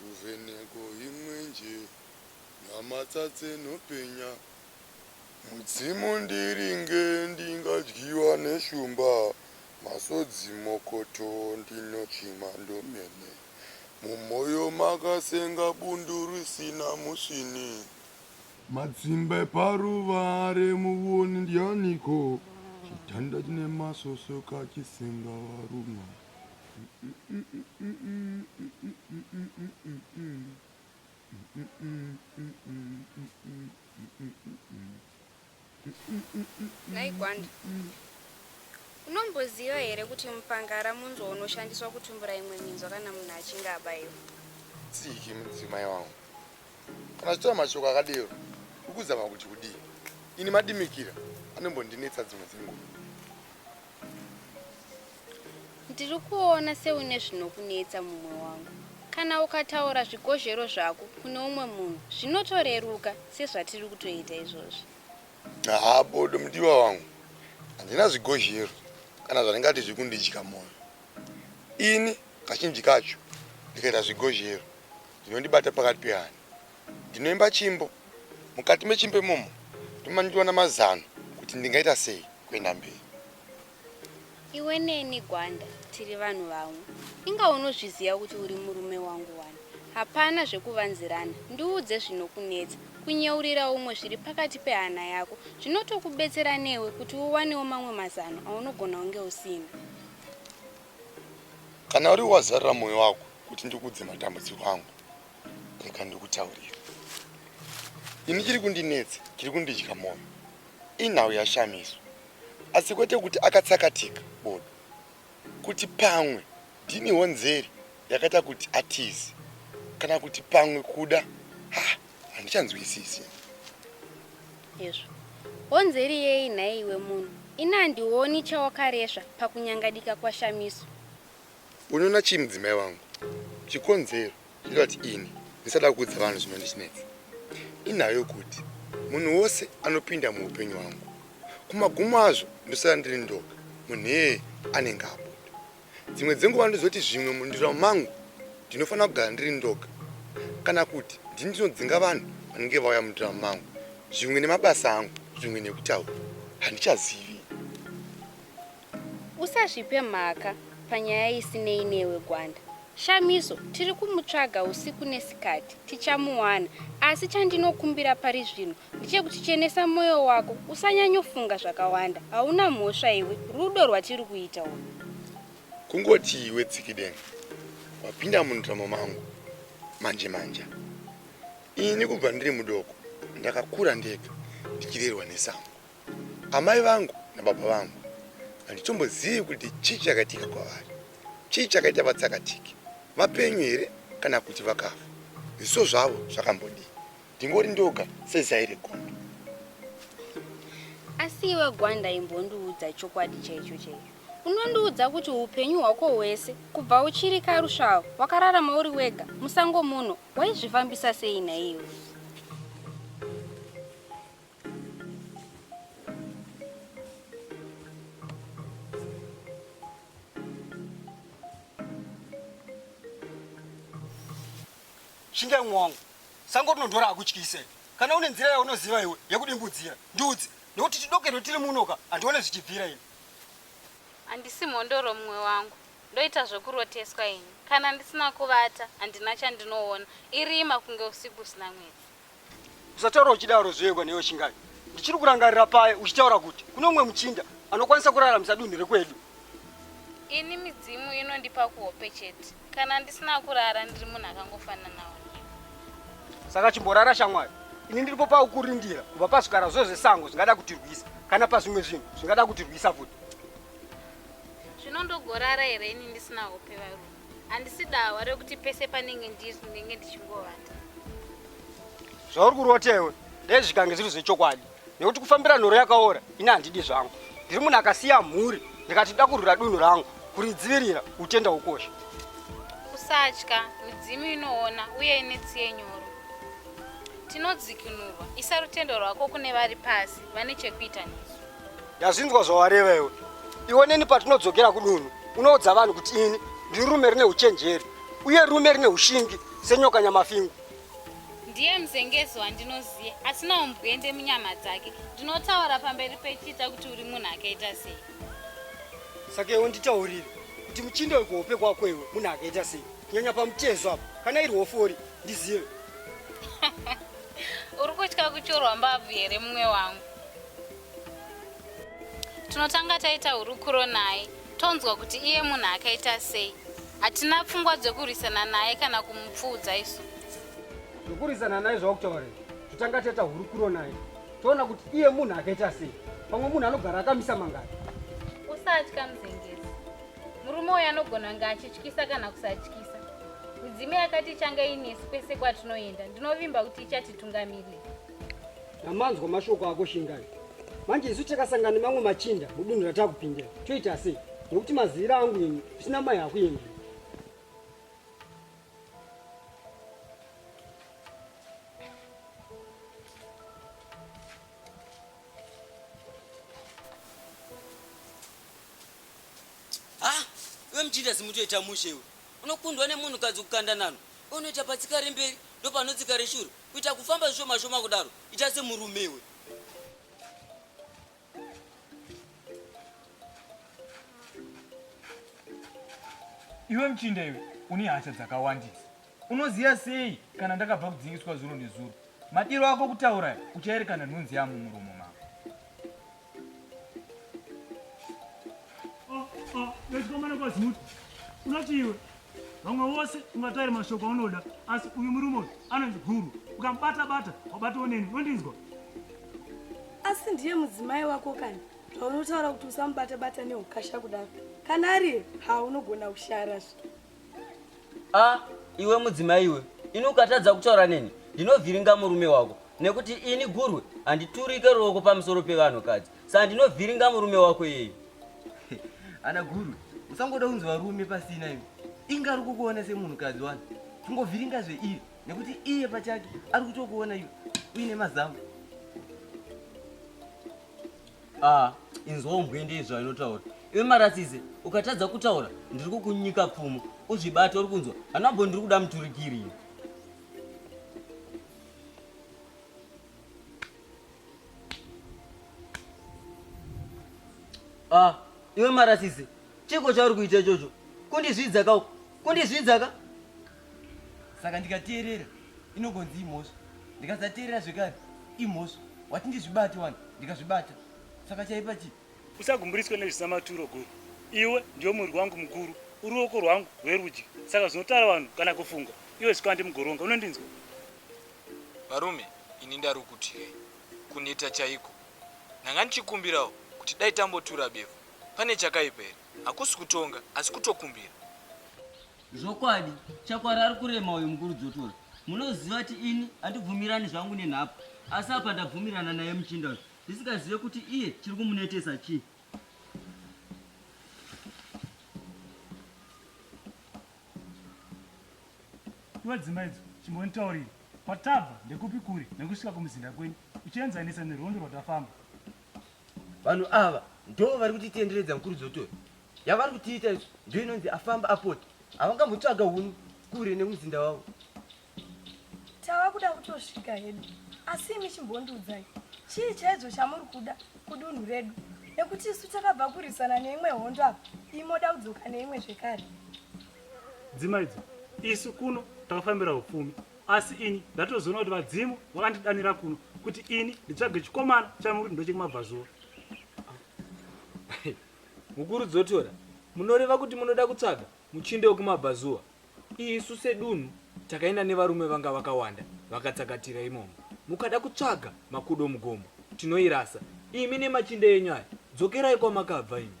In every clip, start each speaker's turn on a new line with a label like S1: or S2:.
S1: Ruvheneko imwenje nyamatsa dzenhopenya. Mudzimu ndiringe ndingadyiwa neshumba masodzi mokoto ndinochema ndomene mumoyo makasenga bundu risina musvini. Matsimba eparuva remuoni ndianiko chitanda chine masoso kachisenga varumwa.
S2: Nhai Gwanda, unomboziva here kuti mupangara munzwa unoshandiswa kutumbura imwe minzwa kana munhu achinge abaiwa? Tsiki
S1: mudzimai wangu, kana zvitaura mashoko akadero ukuzama kuti kudii? Ini madimikira anombondinetsa dzimwe dzenguva.
S2: Ndiri kuona seune zvinokunetsa mumwe wangu. Kana ukataura zvikozhero zvako kune umwe munhu zvinotoreruka sezvatiri kutoita izvozvi. Haa
S1: bodo mudiwa wangu, handina zvikozhero kana zvandingati zviri kundidya mwoyo. Ini kazhinji kacho ndikaita zvikozhero zvinondibata pakati pehana. Ndinoimba chimbo. Mukati mechimbo imomo ndomanikiwana mazano kuti ndingaita sei kuenda mberi.
S2: Iwe neni Gwanda tiri vanhu vamwe. Inga unozviziva kuti uri murume wangu wani. Hapana zvekuvanzirana. Ndiudze zvinokunetsa. Kunyeurira umwe zviri pakati pehana yako zvinotokubetsera newe kuti uwanewo mamwe mazano aunogona kunge usina.
S1: Kana uriwe wazarura moyo wako kuti ndikuudze matambudziko angu. Reka ndikutaurire. Ini chiri kundinetsa, chiri kundidya moyo. Inhau yashamiswa. Asi kwete kuti akatsakatika bodo. Kuti pamwe ndiniwo nzeri yakaita kuti atize. Kana kuti pamwe kuda. Ha, handichanzwisisi.
S2: Yezvo. Honzeri yei nhaiwe munhu? Ini handioni chawakaresva pakunyangadika kwashamiswa.
S1: Unoona chii mudzimai wangu? Chikonzero chinoita kuti ini ndisada kuudza vanhu zvinondichinetsa inhau yokuti munhu wose anopinda muupenyu hwangu kumagumo azvo ndosara ndiri ndoga munhu iyeye anenge abuda. Dzimwe dzenguva ndozoti zvimwe mundiro mangu ndinofanira kugara ndiri ndoga kana kuti ndini ndinodzinga vanhu vanenge vauya mundiro mangu, zvimwe nemabasa angu, zvimwe nekutaura handichazivi.
S2: Usazvipe mhaka panyaya isinei newe Gwanda. Shamiso tiri kumutsvaga usiku nesikati, tichamuwana asi chandinokumbira pari zvino ndechekuti chenesa moyo wako usanyanyofunga zvakawanda. Hauna mhosva iwe, rudo rwatiri kuita urwu. Kungoti
S1: iwe Tsikideng wapinda mundrama mangu manje manja. Ini kubva ndiri mudoko ndakakura ndega ndichirerwa nesango. Amai vangu nababa vangu handitombozivi kuti chii chakaitika kwavari, chii chakaita vatsakatike, vapenyu here kana kuti vakafa, zviso zvavo zvakambodii. Ndingori ndoga sezai regondo.
S2: Asi iwe Gwanda imbondiudza chokwadi chaicho chaicho. Unondiudza kuti upenyu hwako hwese kubva uchiri karusvava wakararama uri wega musango muno waizvifambisa sei nhaiwe?
S3: shingai mwoyo wangu sango rinodhora akutyise kana une nzira yaunoziva iwe yekudimbudzira ndiudzi nekuti tidokerwe tiri munoka handione zvichibvira ini
S4: handisi mhondoro mumwe wangu ndoita zvekuroteswa ini kana ndisina kuvata handina chandinoona irima kunge usiku usina mwedzi Usataura
S3: uchidaro zvoyekwa newe Shingai. Ndichiri kurangarira paye uchitaura kuti kune umwe muchinda anokwanisa kuraramisa dunhu rekwedu.
S4: Ini midzimu inondipa kuhope chete. Kana ndisina kurara ndiri munhu akangofananawo newe.
S3: Saka chimborara shamwari. Ini ndiripo paukurindira kubva pazvikara zvo zvesango zvingada kutirwisa kana pazvimwe zvinhu zvingada kutirwisa futi. Zvino
S4: ndogorara here ini ndisina hope varume? handisi dawa rekuti pese panenge ndiri ndinenge ndichingovata zvauri
S3: kurota iwe dai zvikange zviri zvechokwadi nekuti kufambira nhoro yakaora ini handidi zvangu ndiri munhu akasiya mhuri ndikati nda kurwira dunhu rangu kuridzivirira utenda ukosha usatya
S4: midzimu inoona uye ine tsiye nyoro tinodzikinurwa isa rutendo rwako kune vari pasi vane chekuita nesu Ndazvinzwa
S3: zvawareva iwe. Iwe neni patinodzokera kudunhu unoudza vanhu kuti ini ndiri rume rine uchenjeri uye rume rine ushingi senyoka nyamafingu. Ndiye
S4: mzengezi wandinoziva asina umbwende munyama dzake. Ndinotaura pamberi pechita kuti uri munhu akaita sei.
S3: Saka iwe nditaurire kuti muchinda wekuhope kwako iwe munhu akaita sei kunyanya pamutezo apo kana iri hofori ndizive.
S4: Uri kutya kuchorwa mbabvu here mumwe wangu? Tinotanga taita hurukuro naye tonzwa kuti iye munhu akaita sei. Hatina pfungwa dzekurwisana naye kana kumupfuudza isu. Zvekurwisana
S3: naye zvakutaura here? Totanga taita hurukuro naye toona kuti iye munhu akaita sei. Pamwe munhu anogara akamisa mangari. Usatya
S4: muzengezi. Murume uyu anogona kunge achityisa kana kusatyisa. Midzimu yakati ichange inesu kwese kwatinoenda. Ndinovimba kuti ichatitungamirira.
S3: Amanzwa mashoko ako Shingai. Manje isu takasangana nemamwe machinda mudunhu ratakupindira. Toita sei? Nekuti mazira angu ini zvisina mai hakuendi. Ah,
S5: we mchinda simutoita mushe we. Unokundwa nemunhukadzi kukanda nano. Unoita patsika remberi ndopanotsika reshure. Kuita kufamba zvishoma shoma kudaro ita semurume iwe.
S6: Iwe mchinda iwe une hasha dzakawandisa. Unoziva sei kana ndakabva kudzingiswa zuro nezuro? Madiro ako kutaura uchaerekana nhunzi yamo muromo mako.
S7: Vechikomana kwazimuti unoti iwe vamwe vose ungataire mashoko aunoda asi uyu murume uyu anonzi guru ukamubata bata wabatawo neni unondinzwa
S8: asi ndiye mudzimai wako kani zvaunotaura kuti usamubata bata neukasha kudaro kana ariye haunogona kushara zve a
S5: iwe mudzimai iwe ini ukatadza kutaura neni ndinovhiringa murume wako nekuti ini gurwe handiturike ruoko pamusoro pevanhukadzi saa ndinovhiringa murume wako iyeyu
S9: ana gurwe usangoda kunzi varume pasina iwe inga ari kukuona semunhukadzi wani chingovhiringa zveiyo nekuti iye pachake ari kutokuona iwe uine mazamu
S5: Ah, inzwa umbwe ndiye zvainotaura. Iwe marasise, ukatadza kutaura ndiri kukunyika pfumo. Uzvibate uri kunzwa. Hanabho ndiri kuda muturikiri. Ah, iwe marasise, chiko chauri kuita ichocho. Kundizvidza ka kundizvidza ka.
S9: saka ndikateerera inongonzi imhosva ndikasateerera zvekare imhosva wati ndizvibate wani ndikazvibata saka chaipa chii usagumburiswe
S7: nezvisamaturo guru iwe ndiwe muviri wangu mukuru uri ruoko rwangu rwerudyi saka zvinotara vanhu kana kufunga iwe zvikwandi mugoronga unondinzwa
S10: varume ini ndari kutyai kuneta chaiko ndanga ndichikumbirawo kuti dai tambotura befu pane chakaipa here hakusi kutonga asi kutokumbira
S5: Zvokwadi chakwara ari kurema uyu mukuru dzotora. Munoziva kuti ini handibvumirani zvangu nenhapu asi apa ndabvumirana naye muchinda uyu ndisingazive kuti iye chiri kumunetesa chii.
S7: Iwe dzimba idzo chimbonditaurira kwatabva ndekupi kure nekusvika kumuzinda kwenyu uchienzanisa nerwendo rwatafamba.
S9: Vanhu ava ndoo vari kutitenderedza mukuru dzoto yavari kutiita izvo ndoo inonzi afamba apota havangambotsvaga hunu kure nemuzinda wavo
S8: tava kuda kutosvika hedu asi imi chimbondiudzai chii chaidzo chamuri kuda kudunhu redu nekuti isu takabva kurwisana neimwe hondo apa imoda kudzoka neimwe zvekare
S7: dzimaidzo isu kuno takafambira upfumi Asi ini ndatozoona kuti vadzimu vakandidanira kuno kuti ini nditsvage chikomana chamuri ndochekumabvazuva.
S6: Mukuru Dzotora, munoreva kuti munoda kutsvaga muchinde wekumabvazuva? Isu sedunhu takaenda nevarume vanga vakawanda vakatsakatira imomo. Mukada kutsvaga makudo mugomo, tinoirasa. Imi nemachinde enyu aya, dzokerai kwamakabva imi.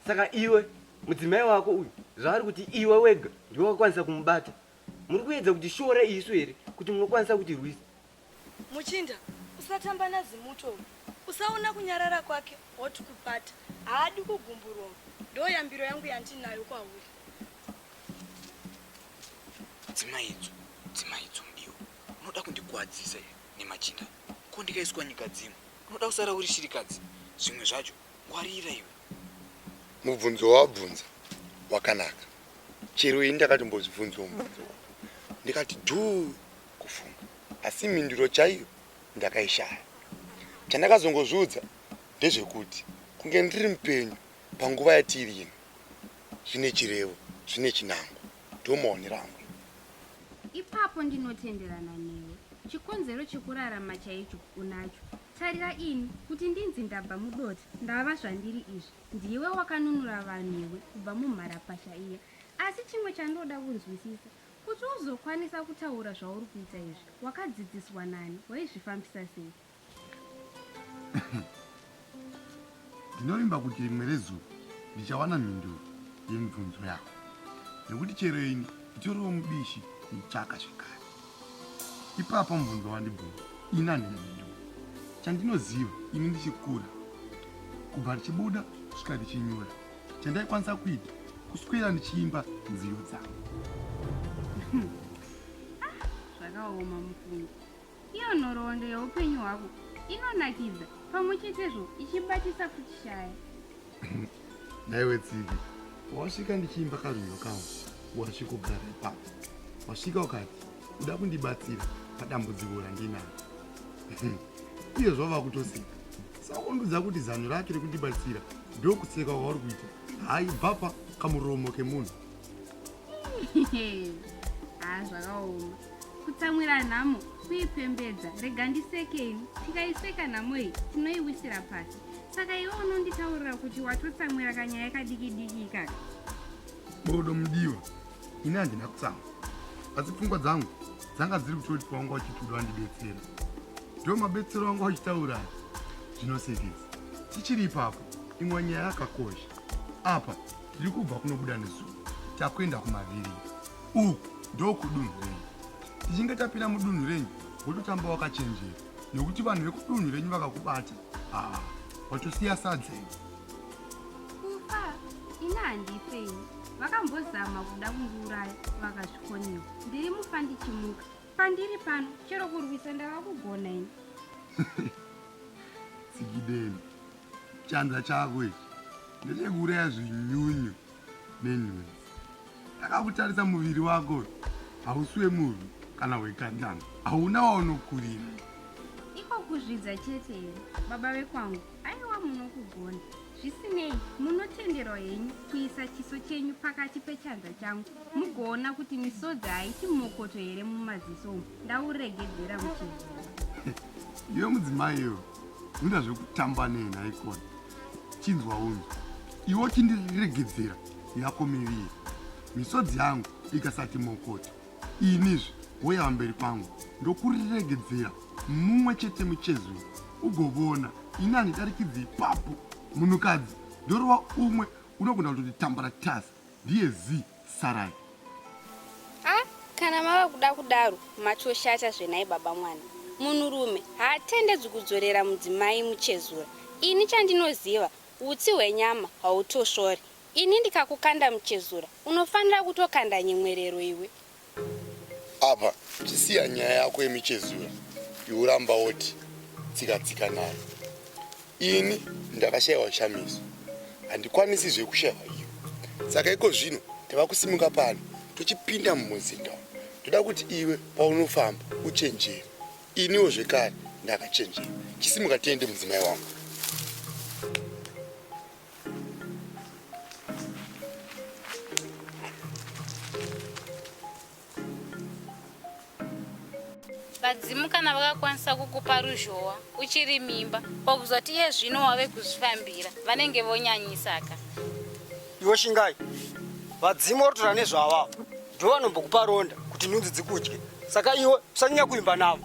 S6: Saka
S9: iwe mudzimai wako uyu zvaari kuti iwe wega ndiwe wakwanisa kumubata Muri kuedza kutishora isu here kuti munokwanisa kutirwisa?
S8: Muchinda, usatamba naZimuto uyu. Usaona kunyarara kwake hoti kupata. Haadi kugumburwa uyu. Ndoyambiro yangu yandinayo kwauri.
S10: Dzimaidzo, dzimaidzo mudiwa. Unoda kundigwadzisa here nemachinda? Ko ndikaiswa nyika dzimwe. Unoda kusara uri shirikadzi. Zvimwe zvacho ngwarira iwe. Mubvunzo
S1: wawabvunza wakanaka. chero ini ndakatombozvibvunzawo mubvunzo wako ndikati dhuu kufunga asi mhinduro chaiyo ndakaishaya chandakazongozviudza ndezvekuti kunge ndiri mupenyu panguva yatiri ino zvine chirevo zvine chinango ndomaonero angu
S2: ipapo ndinotenderana newe chikonzero chekurarama chaicho unacho tarira ini kuti ndinzi ndabva mudoti ndava zvandiri izvi Ndiwe wakanunura vanhu iwe kubva mumharapasha iya. Asi chimwe chandoda kunzwisisa, kuti uzokwanisa kutaura zvauri kuita izvi, wakadzidziswa nani? Waizvifambisa sei?
S1: Ndinovimba kuti rimwe rezuva ndichawana mhinduro yemibvunzo yako, nekuti chero ini nditoriwo mubishi kuitsvaka zvekare. Ipapo mubvunzo wandibvunza ina nhenyu chandinoziva ini ndichikura kubva ndichibuda kusvika ndichinyura chandaikwanisa kuita kuswera ndichiimba nziyo dzangu
S2: zvakaoma mufungo iyo nhoroondo yeupenyu hwako inonakidza pamwe chetezvo ichibatisa kuchishaya
S1: Naiwe Tsiki, wasvika ndichiimba karwiyo kawo wasvikogara ipapo. Wasvika ukati uda kundibatsira padambudziko randinaro. Iye zvava kutoseka. Sakundudza kuti zano rake rekundibatsira ndokuseka kwauri kuita. Hayi bvapa kamuromo kemunhu.
S2: haa zvakaoma kutsamwira nhamo kuipembedza rega ndisekei tikaiseka nhamo iyi tinoiwisira pasi saka iwe unonditaurira kuti watotsamwira kanyaya kadikidiki ikaka bodo
S1: mudiwa ini handina kutsamwa asi pfungwa dzangu dzanga dziri kutoti kwanga uchituda wandibetsera ndo mabetsero anga uchitaura zvinosekesa tichiri ipapo imwe nyaya yakakosha apa Tiri kubva kunobuda nezuva takuenda kumaviri uku ndokudunhu renyu. Tichinge tapinda mudunhu renyu wototamba wakachenjera nekuti vanhu vekudunhu renyu vakakubata haa watosiya sadzei.
S2: Kufa ini handifei vakambozama kuda kundiuraya vakazvikoniwa ndiri mufa ndichimuka pandiri pano chero kurwisa ndava kugona ini.
S1: Tsigideni Chanza chako ichi ndechekuuraya zvinyunyu nenhunzi. Ndakakutarisa muviri wako hausi wemurwi kana wekandanga, hauna waunokurira. Iko
S2: kuzvidza chete here baba vekwangu? Aiwa munokugona. Zvisinei, munotenderwa henyu kuisa chiso chenyu pakati pechanza changu mugoona kuti misodzi haiti mokoto here mumaziso umu ndauregedzera muchizii.
S1: Iwe mudzimai iwe Unoda zvekutamba nei nhaikona? Chinzwa unzi iwo chindiregedzera yako miviri. Misodzi yangu ikasati mokoto inizve woya vamberi kwangu ndokuriregedzera mumwe chete muchezwi ugovona ini handidarikidzi ipapo munhukadzi ndorova umwe unogona kutoti tambara tasi ndiye zii sarai ah,
S2: kana mava kuda kudaro matoshata zvenai baba mwana munhurume haatendedzwi kudzorera mudzimai muchezura ini chandinoziva utsi hwenyama hautosvori ini ndikakukanda muchezura unofanira kutokanda nyemwerero iwe
S1: apa chisiya nyaya yako yemichezura iuramba woti tsika tsika nayo Ini ndakashayiwa shamiso handikwanisi zvekushayiwa iyo saka iko zvino tava kusimuka pano tochipinda mumuzinda ndoda kuti iwe paunofamba uchenjere iniwo zvekare ndakachenjera chisimuka tiende mudzimai wangu
S4: vadzimu kana vakakwanisa kukupa ruzhowa uchiri mimba pakuzoti iye zvino wave kuzvifambira vanenge vonyanyisaka
S3: iwe shingai vadzimu vatotora nezvavavo ndo vanombokupa ronda kuti nhunzi dzikudye saka iwe usanyanya kuimba navo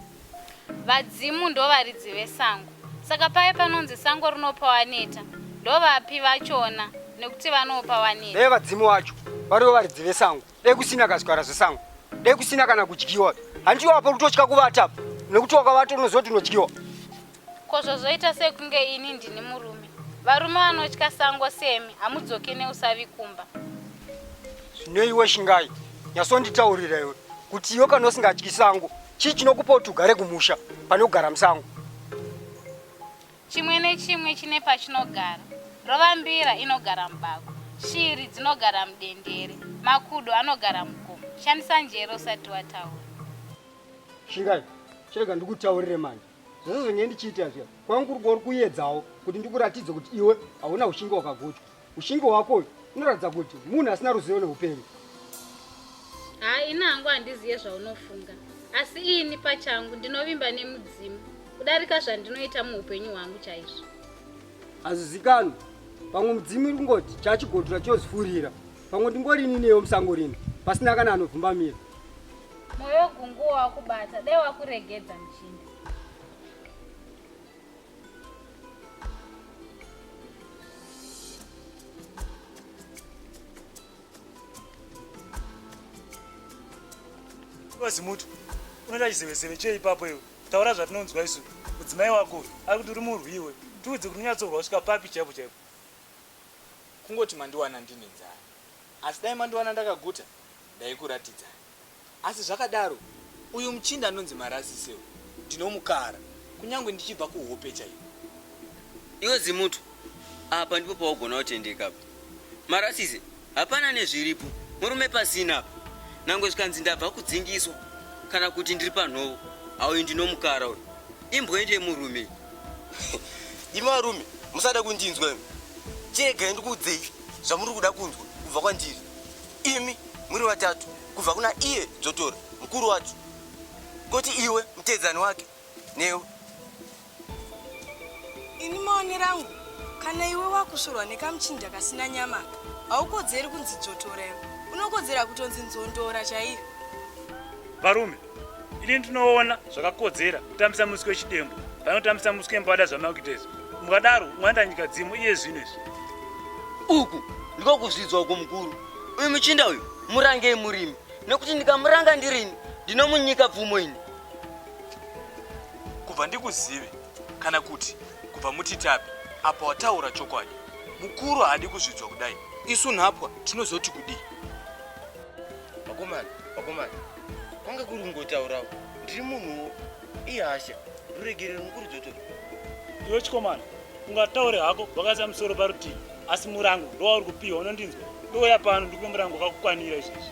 S3: vadzimu
S4: ndo varidzi vesango saka paye panonzi sango rinopa waneta ndovapi vachona nekuti vanopa waneta ee vadzimu vacho
S3: varivo varidzi vesango dai kusina kazvara zvesango dai kusina kana kudyiwa handiwo apa kutotya kuvata apa nekuti wakavata unozoti unodyiwa ko
S4: zvozoita sekunge ini ndini murume varume vanotya sango semi hamudzoke neusavi kumba
S3: zvinoiwe shingai nyasonditaurira iwe kuti iwe kana usingatyi sango chii chinokupa kuti ugare kumusha pane kugara musango Chimwe
S4: nechimwe chine pachinogara. Rovambira inogara mubako. Shiri dzinogara mudendere. Makudo anogara mugomo. Shandisa njere usati wataura.
S3: Shingai, chirega ndikutaurire manje. Zvese zvinge ndichiita zviya, kwangu kuri kuedzawo kuti ndikuratidze kuti iwe hauna ushingi wakagochwa. Ushingi hwako uyu unoratidza kuti munhu asina ruzivo neupenyu.
S4: Haa ini hangu handiziye zvaunofunga asi ini pachangu ndinovimba nemudzimu kudarika zvandinoita muupenyu hwangu chaizvo. Hazvizikanwi
S3: pamwe mudzimu iri kungoti chachigodura chozifurira pamwe ndingorini neyo musango rino pasina kana anobvumbamira. Moyo
S4: gunguwo wakubata dai wakuregedza muchinda.
S7: vazimutu unoita chizevezeve chei ipapo iwe taura zvatinonzwa isu mudzimai wako ari kuti uri murwi iwe tiudze kuti unyatsorwa kusvika papi chaipo chaipo
S10: kungoti mandiwana ndine nzara asi dai mandiwana ndakaguta ndaikuratidzai Asi zvakadaro, uyu muchinda anonzi Marasisi uyu ndinomukara kunyangwe ndichibva kuhope chaiko. Iwe
S5: Zimuto, apa ndipo paugona kutendeka apa. Marasisi, hapana nezviripo, murume pasina apa. Nangwe zvikanzi ndabva kudzingiswa kana kuti ndiri panhovo, auyu ndinomukara uyu. Imbwende yemurume iyi.
S9: Imi varume, musada kundinzwa imi. Chiregai ndikuudzei zvamuri kuda kunzwa kubva kwandiri. Imi muri vatatu kubva kuna iye dzotori mukuru wacho, koti iwe mutedzani wake newe.
S8: Ini maone rangu kana iwe wakusvorwa nekamuchinja kasina nyama aka haukodzeri kunzi dzotora iwe unokodzera kutonzi nzondora chaiyo.
S7: Varume ini ndinoona zvakakodzera kutambisa musi wechidembo panotambisa musi wembada zvamakuitezvo mukadaro mwaenda nyika dzimu iye zvino izvi uku
S5: ndiko kuzvidzwa uku mukuru uyu muchinda uyu murangei murimi nekuti ndikamuranga ndirini ndinomunyika pfumo ini
S10: kubva ndikuzive kana kuti kubva mutitapi apa wataura chokwadi mukuru haadi kuzvidzwa kudai isu nhapwa tinozoti kudii vakomana
S9: vakomana kwanga kuri kungotaurawo ndiri munhuwo ihasha ruregerero mukuru dzotori iwe
S7: chikomana ungataure hako vakaisa musoro parutivi asi murango ndowauri kupiwa unondinzwa ndouya pano ndikupe murango wakakukwanira izvezvi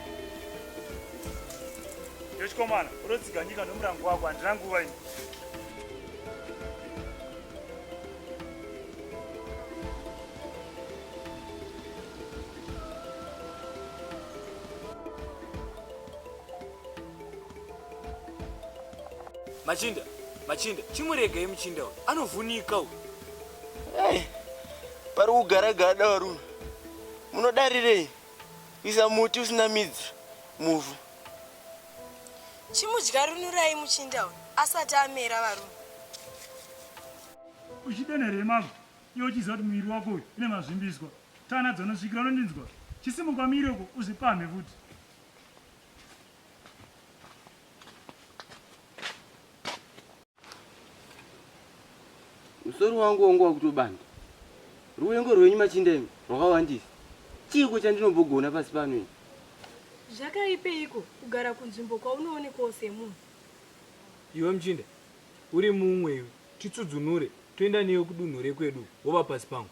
S7: iwe chikomana unotsiga nyika nomurango wako handina nguva ini
S10: Machinda, machinda, chimuregai muchinda uyu. Anovhunika uyu. Hey,
S9: pari kugara gada varume. Munodarirei? Kuisa muti usina midzi muvhu.
S8: Chimudya runurai muchinda uyu asati amera varume.
S7: Uchidana here mama? Iwe uchiziva kuti muviri wako uyu une mazvimbiswa, taura nadzo unosvikira unondinzwa. Chisimuka umire uko uzvipamhe futi.
S9: Musoro wangu wangu wakutobanda. Ruvengo rwenyu machinda imi rwakawandisa. Chiiko chandinombogona pasi pano ini?
S8: Zvakaipeiko kugara kunzvimbo kwaunoonekwawo semunhu?
S6: Iwe muchinda, uri mumwe iwe. Titsudzunure toenda newe kudunhu rekwedu wova pasi pangu.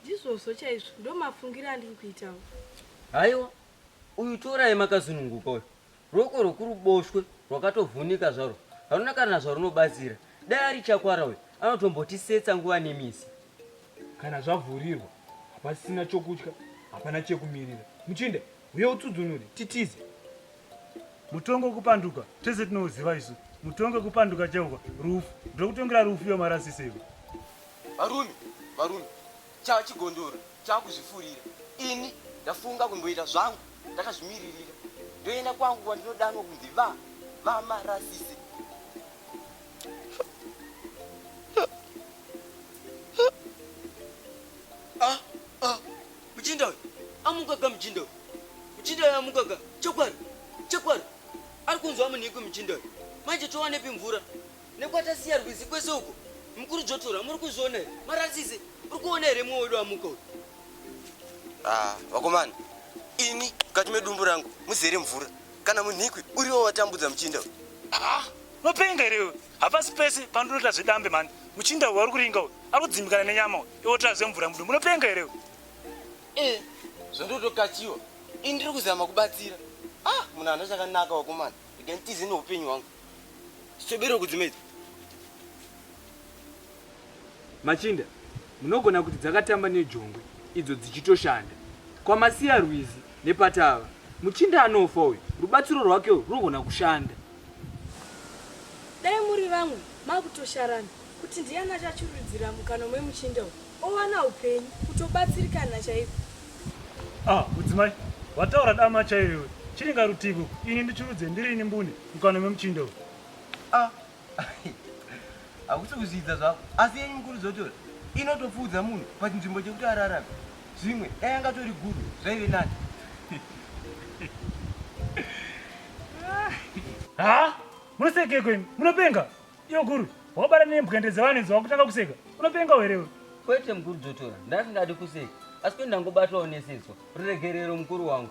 S6: Ndizvozvo chaizvo,
S8: ndomafungiro andiri kuitawo. Haiwa,
S5: uyu torai makazununguka uyu. Ruoko rwekuruboshwe rwakatovhunika zvarwo, haruna kana zvarunobatsira. Dai ari chakwara uyu, anotombotisetsa nguva nemisi. Kana
S6: zvavhurirwa hapasisina chokutya, hapana chekumirira. Muchinda! Huye utsudzunure, titize.
S7: Mutongo wekupanduka tese tinouziva isu. Mutongo wekupanduka chauka rufu. Ndokutongera rufu iwe marasise iwe. Varume,
S9: varume, chava chigondoro chava kuzvifurira. Ini ndafunga kumboita zvangu ndakazvimiririra. Ndoenda kwangu kwandinodanwa kunzi va, va marasise.
S5: Mjinda uyu amukaga mjinda uyu. Mjinda uyu amukaga. Chokwadi. Chokwadi. Ari kunzwa munhiku mjinda uyu. Manje towanepi mvura? Nekwatasiya rwizi kwese uko. Mkuru Jotora muri kuzviona here? Marasise. Uri kuona here mwe wedu amuka uyu? Ah,
S9: vakomana. Ini kati medumbu rangu muzere mvura. Kana munhikwi uriwo watambudza mjinda uyu. Ah, mapenga
S7: here uyu? Hapasi pese pandinoita zvedambe mhani. Muchinda uyu ari kuringa uyu. Ari kudzimbikana nenyama uyu. Iwe otora zvemvura mudu. Munopenga here uyu? Eh,
S9: zvondotokachiwa. Ini ndiri kuzama kubatsira. Ah, munhu ana chakanaka wakomana. Ndikanditize neupenyu hwangu. Chitobero kudzimedza.
S6: Machinda munogona kuti dzakatamba nejongwe idzo dzichitoshanda kwaMasiya Rwizi nePatava. Muchinda anofa uyu rubatsiro rwake urwu runogona kushanda.
S8: Dai muri vamwe makutosharana kuti ndiyani achachururudzira mukanwa memuchinda uyu owana upenyu kutobatsirikana chaiko. Ah
S7: mudzimai wataura dama chaiyo iwe. Chiringa rutivi uku ini ndichurudze ndirini mbune mukanwa memuchinda uyu. Ah
S9: hakusi kuzvidza zvako asi yenyu mukuru dzotora inotopfuudza munhu pachinzvimbo chekuti ararame zvimwe dai angatori guru zvaive nani
S7: ha munosekeko imi munopenga iyo guru wabara nembwende dzevanhu idzo wakutanga kuseka unopenga werewe kwete mukuru dzotora
S5: ndasingadi kuseka asi kwendi ndangobatwawo nesetswa ruregerero mukuru wangu